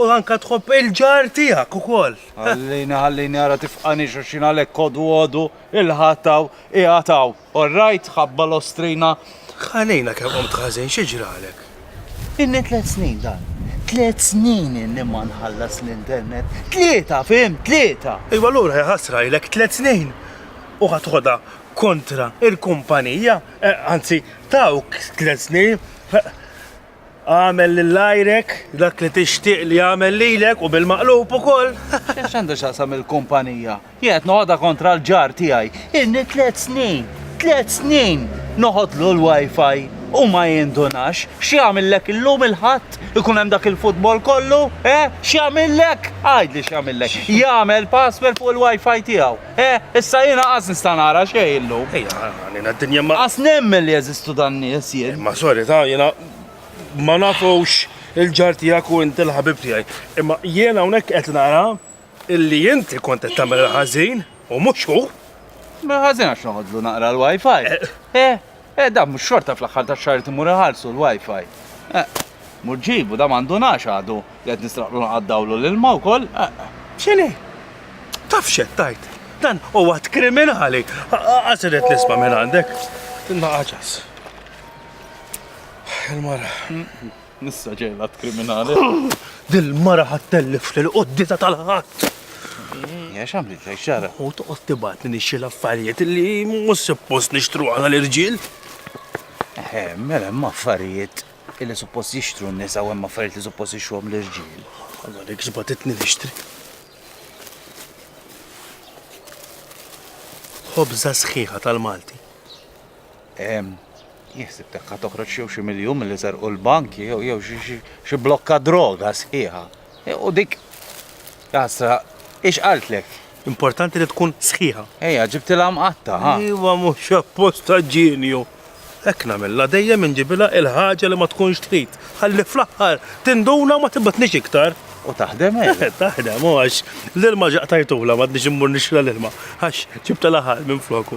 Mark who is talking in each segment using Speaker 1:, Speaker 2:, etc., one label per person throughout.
Speaker 1: U anka tħobb il-ġar tiegħek ukoll. Ħallini ħallini
Speaker 2: ara tifqani xulxin għalhekk kodu għodu il-Ħadd hawn qiegħed hawn. All right, ħabba l-ostrina. Ħalina kemm
Speaker 1: qomt ħażin xi ġralek? Inni
Speaker 2: tliet snin dan. Tliet snin inni ma nħallas l-internet. Tlieta, fim, tlieta. Iwa lura hija ħasra
Speaker 1: ilek tliet snin u ħadħodha kontra il-kumpanija, eh, anzi tawk tliet snin. Agħmel lil għajrek dak li tixtieq li jagħmel lilek u bil-maqlub ukoll. X'għax għandu x'aqsam
Speaker 2: il-kumpanija? Jien qed noqgħodha kontra l-ġar tiegħi. Ilni tliet snin, tliet snin noħodlu l-wifi u ma jindunax. X'jagħmillek illum il-Ħadd ikun hemm dak il-futbol kollu? Eh? X'jagħmillek? Għidli x'jagħmillek. Jagħmel password fuq il-wifi tiegħu. Eh, issa jiena qas nista' nara xejn illum. Ejja, għalina d-dinja
Speaker 1: ma. Qas nemmen li jeżistu
Speaker 2: dan nies jien. Ma sorry ta' jiena
Speaker 1: ma nafux il-ġar tiegħek u inti l-ħabib tiegħi. Imma jiena hawnhekk qed nara illi inti kont qed tagħmel ħażin u mhux hu. Ma ħażin
Speaker 2: għax noħodlu naqra l-wifi. Eh. eh. Eh, da mhux xorta fl-aħħar tax-xahar irid imur iħarsu l-Wi-Fi. Eh, mur ġibu da m'għandunax għadu li qed nistraqlu naqaddawlu l-ilma wkoll. Eh. X'inhi?
Speaker 1: Taf x'qed tajt? Dan huwa kriminali. Qasiret nisma' minn għandek. Tinna ħaġas. Il-mara. Nissa
Speaker 2: ġej l-att kriminali. Dil-mara
Speaker 1: ħadd tellif lil qoddita tal-ħadd.
Speaker 2: Ja x'għamliet lej xara? U toqgħod tibgħatni
Speaker 1: nixxi l-affarijiet li mhux suppost nixtru għal l-irġiel.
Speaker 2: Eh, mela hemm affarijiet li suppost jixtru n-nisa u hemm affarijiet li suppost jixtruhom l-irġiel. Alla dik
Speaker 1: x'batitni nixtri. Ħobża sħiħa tal-Malti.
Speaker 2: Jien ħsibtek ħa toħroġ jew xi miljun milli serqu l-bank jew xi blokka droga sħiħa. U dik jasra ix qaltlek. Importanti li
Speaker 1: tkun sħiħa. Ejja, ġibtilha
Speaker 2: mqatta, ha? Iva mhux
Speaker 1: apposta ġenju. Hekk nagħmilha dejjem inġibilha il-ħaġa li ma tkunx trid. Ħalli fl-aħħar tinduna u ma tibgħatnix iktar. U taħdem hekk? Eh,
Speaker 2: taħdem, u għax
Speaker 1: l-ilma ġaqtajtula ma tnix immur nixla l-ilma. Għax ġibtilha ħal minn floku.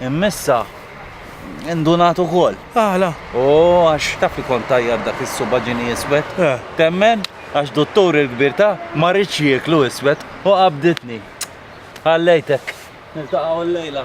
Speaker 2: Immissa indunat ukoll. Għala? U
Speaker 1: għax
Speaker 2: taf li kont tajjat dak is-subaġini iswed. Eh. Temmen għax duttur il-kbir ta' ma rridx jieklu iswed u qabditni. Ħallejtek. Niltaqgħu l-lejla.